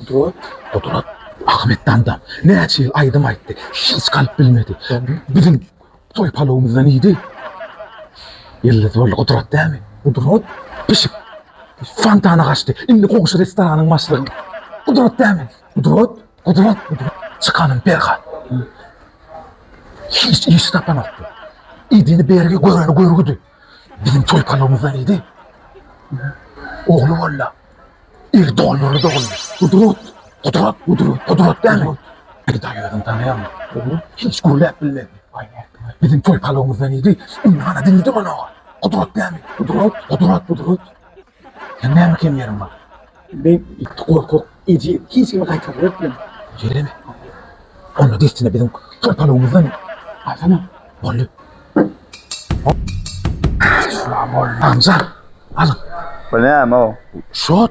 Gudrat. Gudrat Ahmetdanda näçe ýyl aýdym aýtdy, hiç galyp bilmedi. Biziň toý palawymyzdan iýdi. Ýyldyz boldy Gudrat dämi? Gudrat. Pişik. Fontana gaçdy. Indi goňşy restoranyň başlygy. Gudrat dämi? Gudrat. Gudrat. Gudrat. Çykanym Perhat. Hiç iş tapanokdy. Idini bergi göreni görgüdi. Biziň toý palawymyz bar idi. Ogly bolla. Ir doňňury doguldy. Gudrat, Gudrat, Gudrat, Gudrat dämi? Gudrat özüni tanaýarmy? Ogly hiç gürläp bilmedi. Biziň toý palawymyz bar idi. Indi hana diňdi manoga. Gudrat dämi? Gudrat, Gudrat, Gudrat. Sen näme kem ýeriň bar? Men ýiti gorkak eje, hiç kimi gaýtarlar etmem. Ýereme. Onda dessine biziň topalygymyzdan alsana. Boldy. Şular boldy. Sanjar, alyň. Bu näme o? Şot.